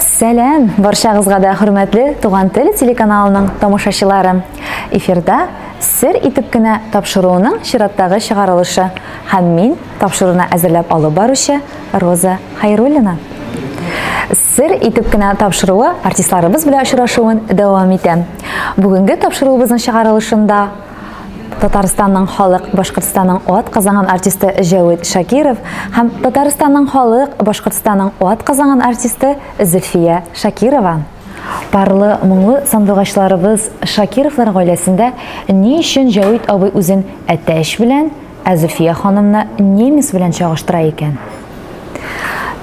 Сәләм, барчагызга да хөрмәтле Туган тел телеканалының тамашачылары. Эфирда сер итеп кенә тапшыруының чираттагы чыгарылышы һәм мин тапшыруны әзерләп алып баручы Роза Хайруллина. Сер итеп кенә тапшыруы артистларыбыз белән очрашуын дәвам итә. Бүгенге тапшыруыбызның чыгарылышында Татарстанның халык Башкортстанның ат казанган артисты Җәвит Шакиров һәм Татарстанның халык Башкортстанның ат казанган артисты Зөлфия Шакирова. Парлы, моңлы сандугачларыбыз Шакировлар гаиләсендә ни өчен Җәвит абый үзен әтәч белән, ә Зөлфия ханымны немец белән чагыштыра икән?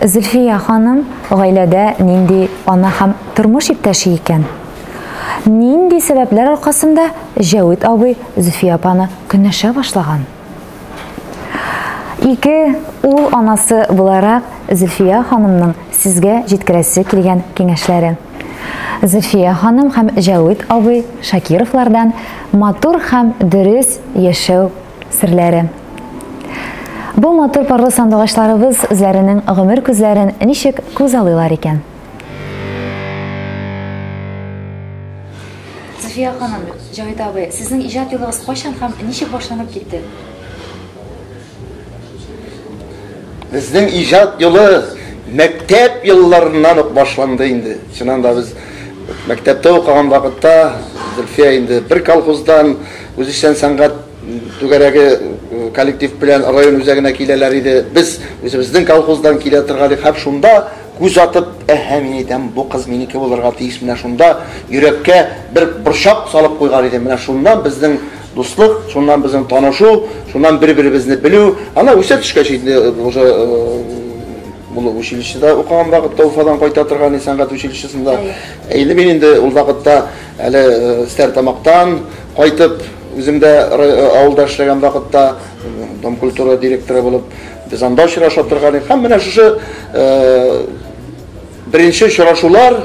Зөлфия ханым гаиләдә нинди ана һәм тормыш иптәше икән? Нинди сәбәпләр аркасында Җәвит абый Зөфия апаны көнләшә башлаган? Ике ул анасы буларак Зөлфия ханымның сезгә җиткерәсе килгән киңәшләре. Зөлфия ханым һәм Җәвит абый Шакировлардан матур һәм дөрес яшәү серләре. Бу матур парлы сандугачларыбыз үзләренең гомер күзләрен ничек күзаллыйлар икән? Зөфия ханым, Җавит абый, сезнең иҗат юлыгыз кайчан һәм ничек башланып китте? Безнең иҗат юлы мәктәп елларыннан ук башланды инде. Чыннан да без мәктәптә укыган вакытта Зөлфия инде бер колхоздан үзешчән сәнгать түгәрәге коллектив белән район үзәгенә киләләр иде. Без үзебезнең колхоздан килә торган идек һәм шунда Күз атып, Әһә, мин әйтәм, бу кыз минеке булырга тиеш, менә шунда йөрәккә бер борчак салып куйган идем, менә шуннан безнең дуслык, шуннан безнең танышу, шуннан бер-беребезне белү. Аннан үсә төшкәч инде уже ул училищеда укыган вакытта Уфадан кайта торган иде, сәнгать училищесында. Ә инде мин инде ул вакытта әле Стәрлетамактан кайтып, үзем дә авылда эшләгән вакытта домкультура директоры булып, Без анда очраша торган идек. Һәм менә шушы беренче очрашулар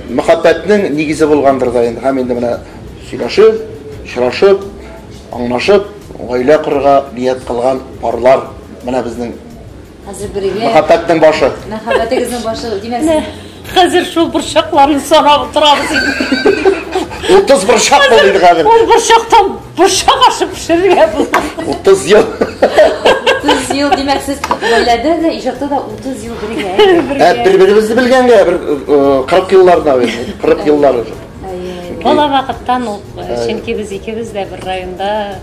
мәхәббәтнең нигезе булгандыр да инде. Һәм инде менә сөйләшеп, очрашып, аңлашып, гаилә корырга ният кылган парлар менә безнең Хәзер бергә. Мәхәббәтнең башы. Мәхәббәтегезнең башы, димәс. Хәзер шул борчакларны санап утырабыз инде. 30 борчак булды инде хәзер. Ул борчактан борчак ашып пешерергә була. 30 ел. 30 ел димәк сез гаиләдә дә иҗатта да 30 ел бергә. Ә бер-беребезне белгәнгә бер 40 елларда, 40 еллар. Бала вакыттан ук, чөнки без икебез дә бер районда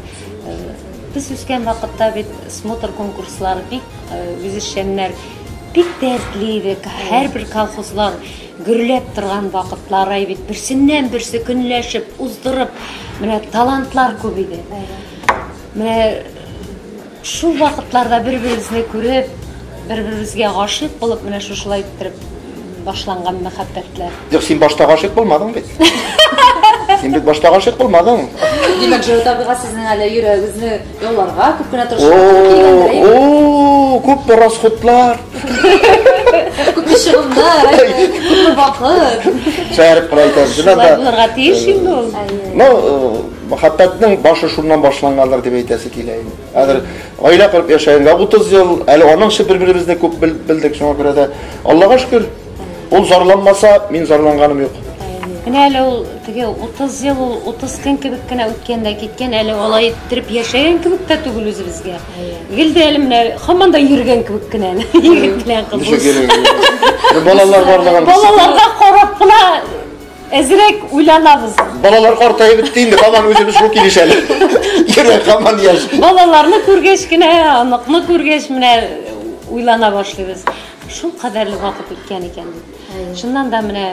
без үскән вакытта бит смотр конкурслары бик үзешчәннәр Бик тә эзли идек. Һәрбер колхозлар гөрләп торган вакытлар ай бит. Берсеннән берсе көнләшеп, уздырып, менә талантлар күп иде. Менә шул вакытларда бер-беребезне күреп, бер-беребезгә гашыйк булып, менә шушылай иттереп башланган мәхәббәтләр. Юк, син башта гашыйк булмадың бит. Син бит башта гашыйк булмадың. Димәк, Җырыт абыйга сезнең әле йөрәгегезне Ялларга күп кенә тырышлык туры килгәндер, әйе? О, күпме расходлар. Күпме чыгымнар, әйе? Күпме вакыт? Шәһәр проектын шулай да. Булырга тиеш инде ул. Ну, мәхәббәтнең башы шуннан башлангандыр дип әйтәсе килә инде. Хәзер гаилә корып яшәгәнгә 30 ел, әле аның өчен бер-беребезне күп белдек, шуңа күрә дә Аллага шөкер. Ул зарланмаса, мин зарланганым юк. Менә әле ул теге 30 ел ул 30 көн кебек кенә үткән дә киткән, әле алай иттереп яшәгән кебек тә түгел үзебезгә. Гел дә әле менә һаман да йөргән кебек кенә. Егет белән кыз. Ничек йөргән? Балалар барлыгын. Балаларга карап кына әзрәк уйланабыз. Балалар картаеп бетте инде, һаман үзебез шул килеш әле. Йөрәк һаман яшь. Балаларны күргәч кенә, аныкны күргәч менә уйлана башлыйбыз. Шул кадәрле вакыт үткән икән бит. Чыннан да менә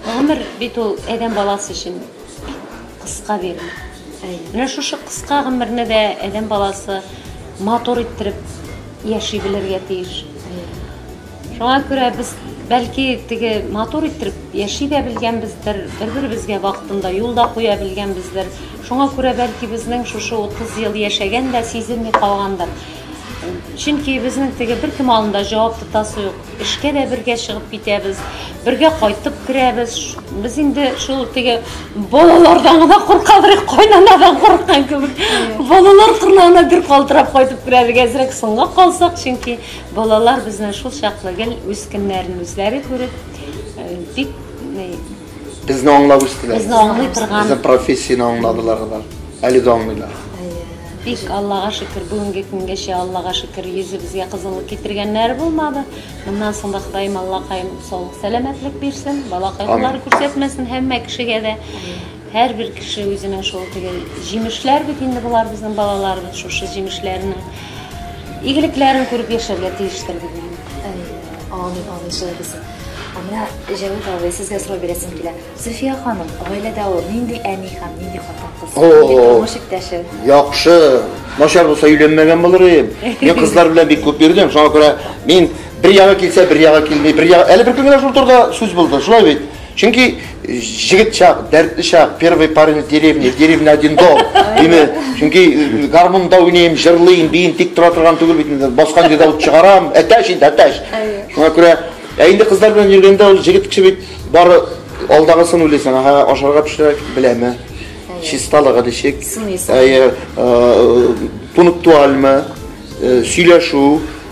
гомер бит ул адәм баласы өчен кыска бирем. Менә шушы кыска гомерне дә адәм баласы матур иттереп яши белергә тиеш. Шуңа күрә без бәлки теге матур иттереп яши дә белгәнбездер, бер-беребезгә вакытында юл да куя белгәнбездер. Шуңа күрә бәлки безнең шушы 30 ел яшәгән дә сизелми калгандыр. Чөнки безнең теге беркем алдында җавап тотасы юк. Эшкә дә бергә чыгып китәбез, бергә кайтып керәбез. Без инде шул теге балалардан гына куркабрык, кайнанадан курыккан кебек. Балалар кырнагына бер калтырап кайтып керә бик әзрәк соңга калсак, чөнки балалар безнең шул чаклы гел үз көннәрен үзләре күреп, бик Безне аңлап үстеләр. Безне аңлый торган. Безнең профессияне аңладылар алар. Әле дә аңлыйлар. Бик Аллага шөкер, бүгенге көнгәчә Аллага шөкер, йөзебезгә кызыллык китергәннәр булмады. Моннан соң да Ходаем Аллакаем саулык, сәламәтлек бирсен, бала кайгылары күрсәтмәсен һәммә кешегә дә. Һәрбер кеше үзенең шул теге җимешләр бит инде болар безнең балаларыбыз шушы җимешләренең игелекләрен күреп яшәргә тиештер дип уйлыйм. Амин, амин, шулай булсын. Ә менә Җәвит абый, сезгә сорау бирәсем килә. Зөфия ханым, гаиләдә ул нинди әни һәм нинди хатын-кыз? Нинди тормыш иптәше? Яхшы. Начар булса өйләнмәгән булыр идем. Мин кызлар белән бик күп йөрдем. Шуңа күрә мин бер ягы килсә, бер ягы килми. Бер ягы әле бер көнгә шул турыда сүз булды. Шулай бит. Чөнки Җегет чак, дәртле чак, первый парень в деревне, в деревне один дом, диме? Чөнки гармунда уйныйм, җырлыйм, биим, тик тора торган түгел бит инде. Баскан җирдә ут чыгарам, әтәч инде, әтәч. Шуңа күрә, ә инде кызлар белән йөргәндә ул җегет кеше бит бары алдагысын уйлыйсың, ага, ашарга пешерә беләме? Чисталыгы ничек? Әйе, пунктуальмы? Сөйләшү,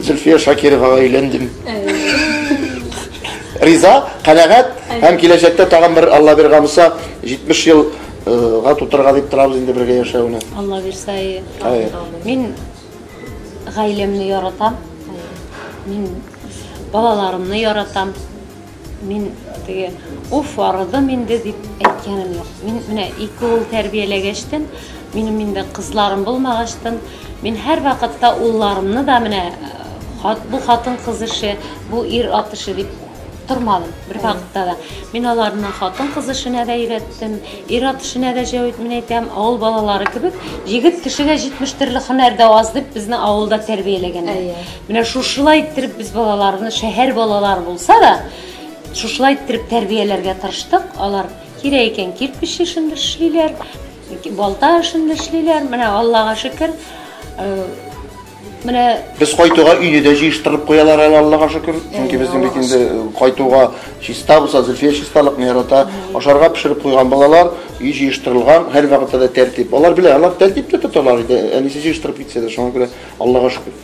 Зөлфия Шакировага өйләндем. Риза, канәгать һәм киләчәктә тагын бер Алла биргән булса 70 ел га тутырга дип торабыз инде бергә яшәүне. Алла бирсә, әйе. Мин гаиләмне яратам. Мин балаларымны яратам. Мин теге уф арыдым инде дип әйткәнем юк. Мин менә ике ул тәрбияләгәчтен, минем инде кызларым булмагачтын, мин һәр вакытта улларымны да менә хат, бу хатын кыз эше, бу ир ат эше дип тормадым бер вакытта да. Мин аларны хатын кыз эшенә дә өйрәттем, ир ат эшенә дә җәвит мин әйтәм, авыл балалары кебек, егет кешегә 70 төрле һөнәр дә аз дип безне авылда тәрбияләгәннәр. Менә шушылай иттереп без балаларны, шәһәр балалары булса да, шушылай иттереп тәрбияләргә тырыштык. Алар кирәк икән кирпич эшен дә эшлиләр, балта эшен дә эшлиләр. Менә Аллага шөкер. Э, менә без кайтуга өйне дә җыештырып куялар әле Аллага шөкер. Чөнки безнең бит инде э, кайтуга чиста булса, Зөлфия чисталыкны ярата. Ашарга пешереп куйган балалар, өй җыештырылган, һәр вакытта да тәртип. Алар белә, алар тәртиптә тоталар иде. Әнисе җыештырып китсә дә, шуңа күрә Аллага шөкер.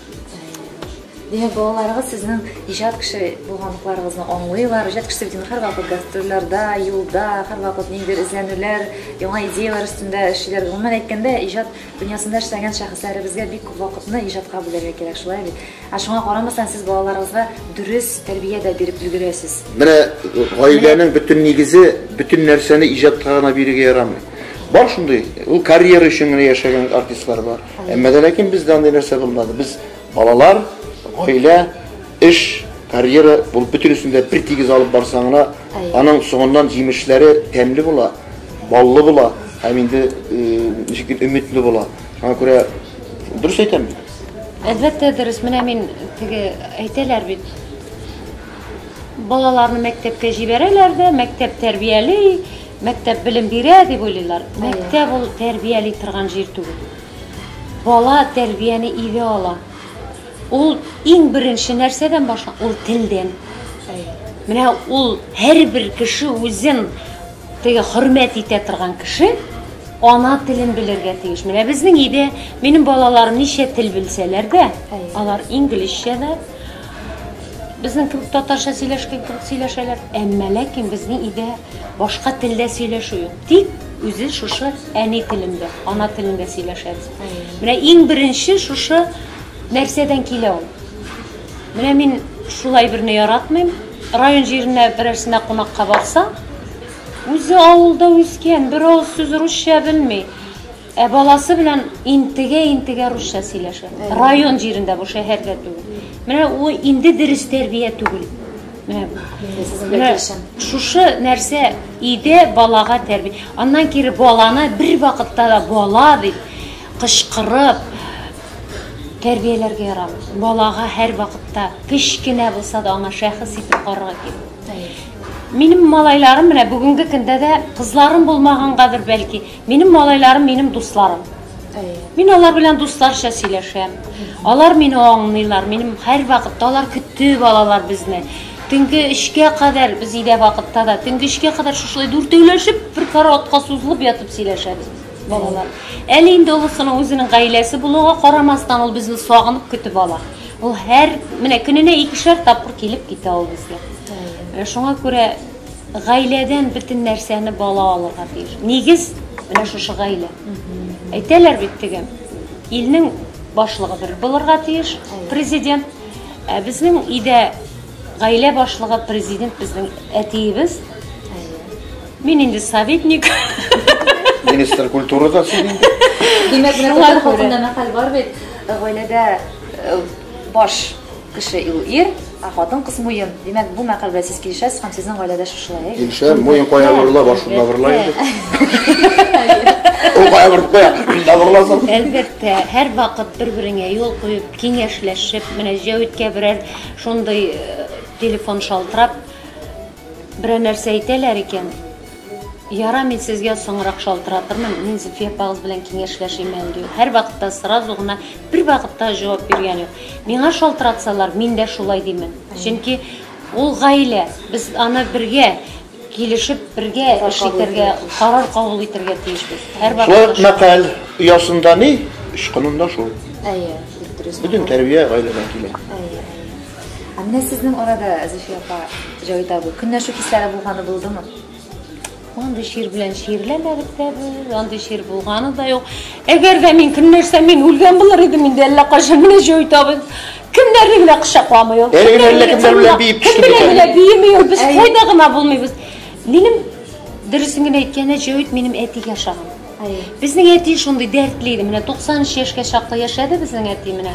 Димәк, балаларыгыз сезнең иҗат кеше булганлыкларыгызны аңлыйлар. Иҗат кеше бит һәрвакыт гастрольләрдә, юлда, һәрвакыт ниндидер эзләнүләр, яңа идеяләр өстендә эшлиләр. Гомумән әйткәндә, иҗат дөньясында эшләгән шәхесләребезгә бик күп вакытны иҗатка бүләргә кирәк, шулай бит? Ә шуңа карамастан, сез балаларыгызга дөрес тәрбия дә биреп өлгерәсез. Менә гаиләнең бөтен нигезе, бөтен нәрсәне иҗатка гына бирергә ярамый. Бар шундый, ул карьера өчен генә яшәгән артистлар бар. Әмма дә ләкин бездә андый нәрсә булмады. Без балалар, гаилә, эш, карьера бул бөтенесен дә бер тигез алып барсаң гына, аның соңыннан җимешләре тәмле була, баллы була һәм инде ничек дип өметле була. Шуңа күрә дөрес әйтәм бит. Әлбәттә дөрес. Менә мин теге әйтәләр бит. Балаларны мәктәпкә җибәрәләр дә, мәктәп тәрбияли, Мәктәп белем бирә дип уйлыйлар. Мәктәп ул тәрбияли торган җир түгел. Бала тәрбияне өйдә ала. Ул иң беренче нәрсәдән башлана? Ул телдән. Менә ул һәрбер кеше үзен теге хөрмәт итә торган кеше ана телен белергә тиеш. Менә безнең өйдә минем балаларым ничә тел белсәләр дә, алар инглизчә дә, безнең кебек татарча сөйләшкән кебек сөйләшәләр. Әмма ләкин безнең өйдә Башка телдә сөйләшү юк. Тик үзе шушы әни телендә, ана телендә сөйләшәбез. Менә иң беренче шушы нәрсәдән килә ул. Менә мин шулай берне яратмыйм. Район җиренә берәрсенә кунакка барса, үзе авылда үскән, бер авыз сүз русча белми. Ә баласы белән интегә-интегә русча сөйләшә. Район җирендә бу шәһәрдә түгел. Менә у инде дөрес тәрбия түгел. Менә шушы нәрсә иде балага тәрби. Аннан кире баланы бер вакытта да бала дип кычкырып тәрбияләргә ярамый. Балага һәр вакытта кечкенә булса да аңа шәхес итеп карарга кирәк. Минем малайларым менә бүгенге көндә дә кызларым булмагангадыр бәлки, Минем малайларым минем дусларым. Мин алар белән дусларча сөйләшәм. Алар мине аңлыйлар. Минем һәр вакытта алар көтеп алалар безне. Төнге 3-кә кадәр без өйдә вакытта да төнге 3-кә кадәр шушылай дүртәүләшеп бер караватка сузылып ятып сөйләшәбез балалар. Әле инде олысының үзенең гаиләсе булуга карамастан ул безне сагынып көтеп ала. Ул һәр менә көненә икешәр тапкыр килеп китә ул безгә. Шуңа күрә гаиләдән бөтен нәрсәне бала алырга тиеш. Нигез менә шушы гаилә. Әйтәләр бит теге илнең башлыгы бер булырга тиеш, президент. Ә безнең өйдә гаилә башлыгы президент безнең әтиебез. Мин инде советник. Министр культурада син инде. Димәк, менә татар халкында мәкаль бар бит, гаиләдә э, баш Кеше ул ир, ә хатын-кыз муен. Димәк, бу мәкаль белән сез килешәсез һәм сезнең гаиләдә шушылай, әйе? Килешәм, муен кая борыла, башында борыла инде. Ул кая борып куя, башында борыласың. Әлбәттә, һәр вакыт бер-береңә юл куеп, киңәшләшеп, менә Җәүиткә берәр шундый э, телефон шалтырап, берәр нәрсә әйтәләр икән, Ярар, мин сезгә соңрак шалтыратырмын, мин Зөлфия апагыз белән киңәшләшим әле, ди ул. Һәрвакытта сразу гына бервакытта җавап биргән юк. Миңа шалтыратсалар, мин дә шулай димен. Чөнки ул гаилә, без аны бергә килешеп, бергә эш итәргә, карар кабул итәргә тиешбез. Шулай ук мәкаль оясында ни, очкынында шул. Әйе, бик дөрес. Бөтен тәрбия гаиләдән килә. Әйе. Ә менә сезнең арада, Зөфия апа, Җавит абый, көнләшү хисләре булганы булдымы? Андый шир белән ширләмәдек тә без, андый шир булганы да юк. Әгәр дә мин көнләшсәм, мин үлгән булыр идем инде әллә кайчан. Менә Җавит абый кемнәрне генә кочакламый ул. Әле генә әллә кемнәр белән биеп төште Кем белән генә биеми ул, без кайда гына булмыйбыз. Минем дөресен генә әйткәндә, Җавит минем әтигә ошаган. Безнең әти шундый дәртле иде. Менә 93 яшькә чаклы яшәде безнең әти менә.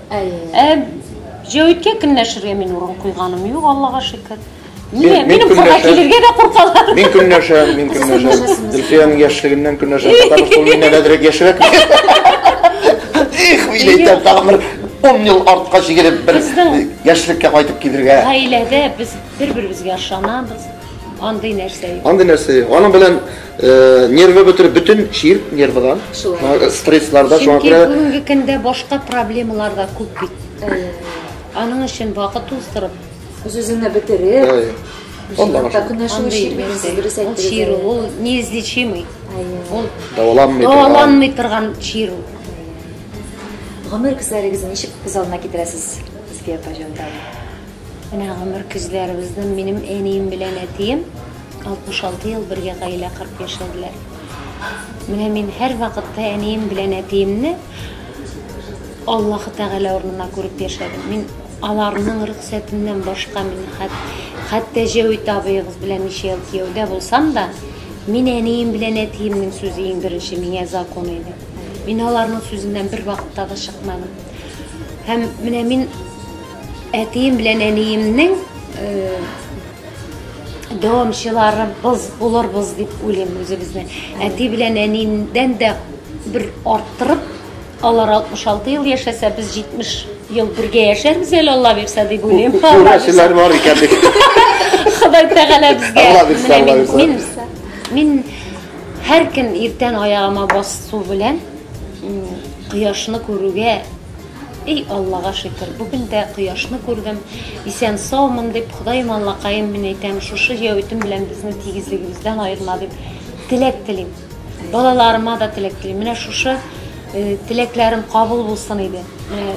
Ә Җәвиткә көнләшергә мин урын куйганым юк, Аллага шөкер. Мин, мин курка килергә дә куркалар. Мин көнләшә, мин көнләшә. Зөлфиянең яшьлегеннән көнләшә. Татар шул миннән әдрәк яшьрәк. Их, мин әйтәм, тагын бер 10 ел артка чигереп бер яшьлеккә кайтып килергә. Гаиләдә без бер-беребезгә ышанабыз. Андый нәрсә юк. Андый нәрсә юк. Аның белән Нервы бөтер, бөтен чир нервыдан. Стрессларда шуңа күрә. Чөнки бүгенге көндә башка проблемалар да күп бит. Аның өчен вакыт уздырып, үз-үзеңне бетереп, Аллага күнәшү чир. Чир ул неизлечимый. Ул даваланмый торган. Даваланмый торган чир ул. Гомер күзләрегезне ничек күз алдына китерәсез? Сезгә пожалуйста. Менә гомер күзләребезне минем әнием белән әтием 66 ел бергә гаилә корып яшәделәр. Менә мин һәрвакытта әнием белән әтиемне Аллаһы Тәгалә урынына күреп яшәдем. Мин аларның рөхсәтеннән башка мин хәт, хәтта Җәвит абыегыз белән ничә ел кияүдә булсам да, мин әнием белән әтиемнең сүзе иң беренче миңа закон иде. Мин аларның сүзеннән бер вакытта да чыкмадым. Һәм менә мин әтием белән әниемнең э, дәвамчыларыбыз булырбыз дип уйлыйм үзебезне. Әти белән әниемдән дә бер арттырып, алар 66 ел яшәсә, без 70 ел бергә яшәрбез әле, Алла бирсә дип уйлыйм. Күрәселәр бар икән бит. Ходай Тәгалә безгә. Алла бирсә, Алла бирсә. Мин, мин һәр көн иртән аягыма басу белән кояшны күрүгә Эй, Аллага шөкер, бүген дә кояшны күрдем, исән-саумын, дип, Ходаем Аллакаем, мин әйтәм, шушы җәвитем белән безне тигезлегебездән аерма, дип теләк телим. Балаларыма да теләк телим. Менә шушы теләкләрем кабул булсын иде. Менә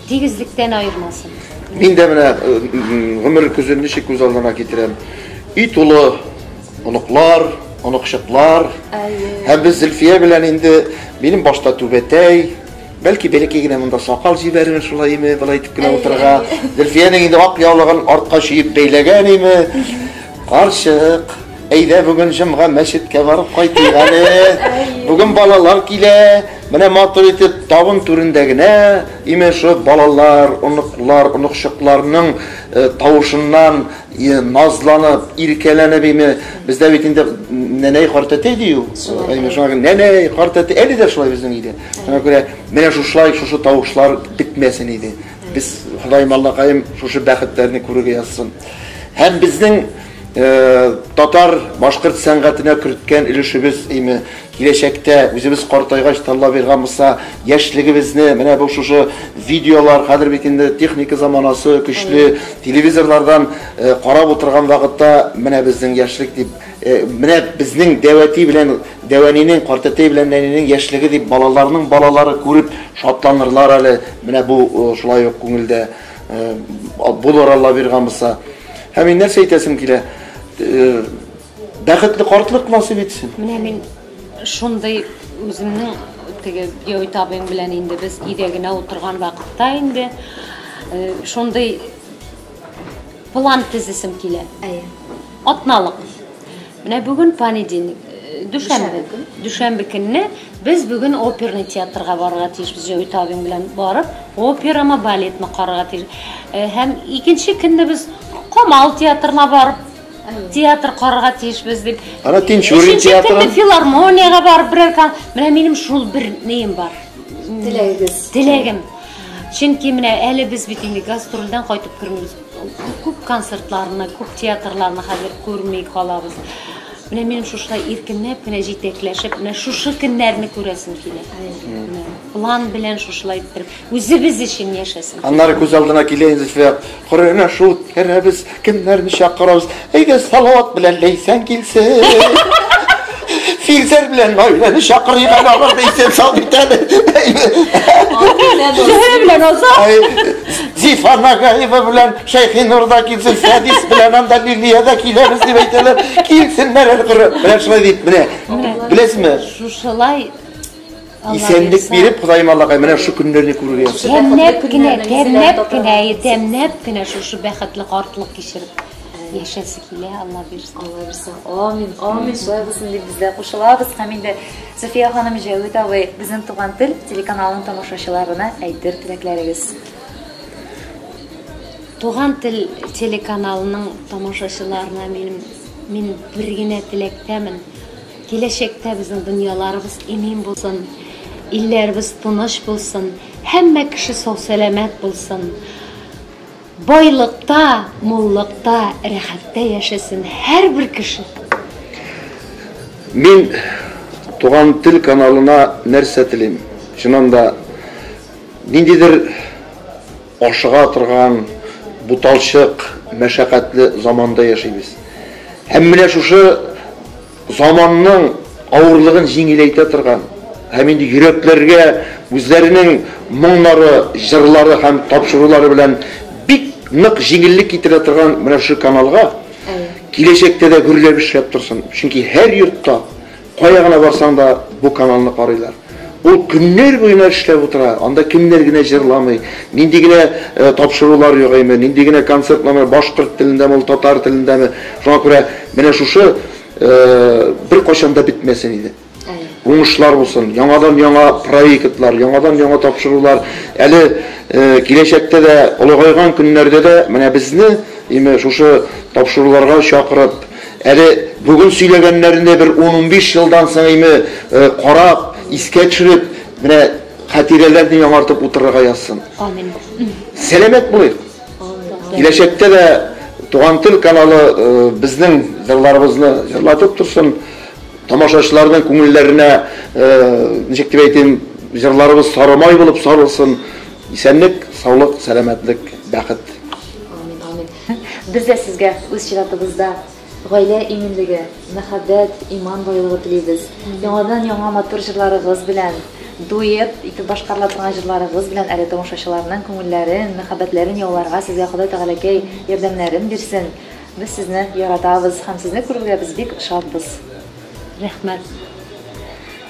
тигезлектән аермасын. Мин дә менә гомер көзен ничек күз алдына китерәм. Өй тулы оныклар, оныкчыклар. Һәм без Зөлфия белән инде минем башта түбәтәй, Бәлки бәләкәй генә монда сакал җибәрер шулай име, болай итеп кенә утырырга. Зөлфиянең инде ак яулыгын артка чөеп бәйләгән име. Карчык, әйдә бүген җомга мәчеткә барып кайтыйк әле. Бүген балалар килә. Менә матур итеп табын түрендә генә име шул балалар, оныклар, оныкчыкларның э, тавышыннан Е, назланып, иркәләнеп име, бездә бит инде нәнәй картәтәй ди ул. Әйме шуңа күрә нәнәй картәтәй әле дә шулай безнең өйдә. Шуңа күрә менә шушылай шушы тавышлар бетмәсен иде. Без Ходаем Аллакаем шушы бәхетләрне күрергә язсын. Һәм безнең э, татар башкорт сәнгатенә керткән өлешебез име Киләчәктә, үзебез картайгач, Таллавирга Муса яшьлегебезне менә бу шушы видеолар, хәзер бит инде техника заманасы көчле, телевизорлардан карап утырган вакытта менә безнең яшьлек дип, менә безнең дәвәти белән дәвәнинең, картәтәй белән нәнинең яшьлеге дип балаларның балалары күреп шатланырлар әле, менә бу шулай ук күңелдә булыр Аллавирга Муса. Һәм мин нәрсә әйтәсем килә? Бәхетле картлык насыйп итсен. Менә мин шундый үземнең теге Геойт абыйм белән инде без өйдә генә утырган вакытта инде э, шундый план тезисем килә. Әйе. Атналык. Менә бүген понедельник, э, дүшәмбе. Дүшәмбе көнне без бүген оперный театрга барырга тиешбез. Геойт абыйм белән барып, операмы, балетны карарга тиеш. Э, Һәм икенче көнне без Камал театрына барып театр карарга тиешбез дип. Ана Тинчурин театры. филармониягә барып берәр кан. Менә минем шул бер неем бар. Теләгегез. Теләгем. Чөнки менә әле без бит инде гастрольдән кайтып кермибез. Күп концертларны, күп театрларны хәзер күрми калабыз. Менә минем шушылай иркенләп кенә җитәкләшеп, менә шушы көннәрне күрәсем килә. План белән шушылай иттереп. Үзебез өчен яшәсен. Аннары күз алдына килә инде теге корыгына шул үткәрәбез, кемнәрне чакырабыз. Әйдә, Салават белән Ләйсән килсен. Филзәр белән Наиләне чакырыйк әле алар да исән сау бит әле. Зөһрә белән Азат. Зифа Нагаева белән Шәйхинур да килсен, Фәдис белән анда Лилия да киләбез дип әйтәләр. Килсеннәр әле кыры. Менә шулай дип, менә. Беләсезме? Шушылай Исәнлек биреп, Ходаем Аллага менә шушы көннәрне күрергә язсын. Тәмләп кенә, тәмләп кенә, тәмләп кенә шушы бәхетле картлык кичереп яшәсе килә, Алла бирсен. Алла бирсен. Амин, амин. Шулай булсын дип без дә кушылабыз. Һәм инде София ханым Җәвит абый, безнең туган тел телеканалының тамашачыларына әйтер теләкләрегез. Туган тел телеканалының тамашачыларына минем мин бер генә теләктәмен. Киләчәктә безнең дөньяларыбыз имин булсын, илләребез тыныч булсын, һәммә кеше сау-сәламәт булсын. Байлыкта, муллыкта, рәхәттә яшәсен һәрбер кеше. Мин Туган тел каналына нәрсә телим? Чыннан да, ниндидер Ашыга торган буталчык, мәшәкатьле заманда яшибез. Һәм менә шушы заманның авырлыгын җиңеләйтә торган һәм инде йөрәкләргә үзләренең моңнары, җырлары һәм тапшырулары белән бик нык җиңеллек китерә торган менә шушы каналга киләчәктә дә гөрләп эшләп торсын, чөнки һәр йортта, Кая гына барсаң да бу каналны карыйлар. Ул көннәр буена эшләп утыра, анда кемнәр генә җырламый, нинди генә тапшырулар юк әйме, нинди генә концерт номер, башкорт телендәме ул, татар телендәме, шуңа күрә менә шушы беркайчан да бетмәсен иде. Уңышлар булсын, яңадан яңа проектлар, яңадан яңа тапшырулар, әле киләчәктә дә, олыгайган көннәрдә дә менә безне әйме шушы тапшыруларга чакырып, Әле бүген сөйләгәннәренә бер ун-унбиш елдан соңгы карап, искә төшереп, менә хатирәләрне яңартып утырырга язсын. Амин. Сәламәт булыйк. Киләчәктә дә Туган тел каналы безнең җырларыбызны җырлатып торсын. Тамашачыларның күңелләренә, ничек дип әйтим, җырларыбыз сары май булып сарылсын. Исәнлек, саулык, сәламәтлек, бәхет. Амин, амин. Без дә сезгә үз чиратыбызда гаилә иминлеге, мәхәббәт, иман байлыгы телибез. Яңадан яңа матур җырларыгыз белән, дуэт итеп башкарыла торган җырларыгыз белән әле тамашачыларның күңелләрен, мәхәббәтләрен яуларга сезгә Ходай Тәгаләкәй ярдәмнәрен бирсен. Без сезне яратабыз һәм сезне күрергә без бик шатбыз. Рәхмәт.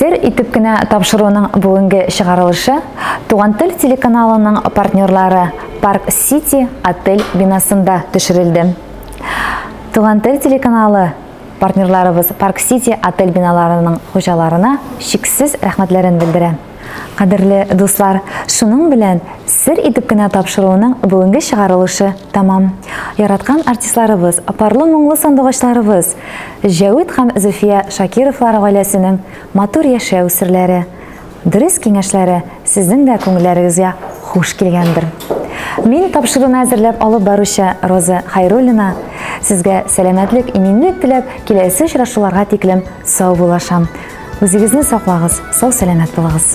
Сер итеп кенә тапшыруның бүгенге чыгарылышы Туган тел телеканалының партнерлары Парк Сити отель бинасында төшерелде. Туган тел телеканалы Партнерларыбыз Парк Сити отель биналарының хуҗаларына чиксез рәхмәтләрен белдерә. Кадерле дуслар, шуның белән сер итеп кенә тапшыруының бүгенге чыгарылышы тәмам. Яраткан артистларыбыз, парлы моңлы сандугачларыбыз, Җәвит һәм Зөфия Шакировлар гаиләсенең матур яшәү серләре. Дөрес киңәшләре сезнең дә күңелләрегезгә хуш килгәндер. Мин тапшыруны әзерләп алып баручы Роза Хайруллина сезгә сәламәтлек, иминлек теләп, киләсе очрашуларга тиклем сау булашам. Үзегезне саклагыз, сау-сәламәт булыгыз.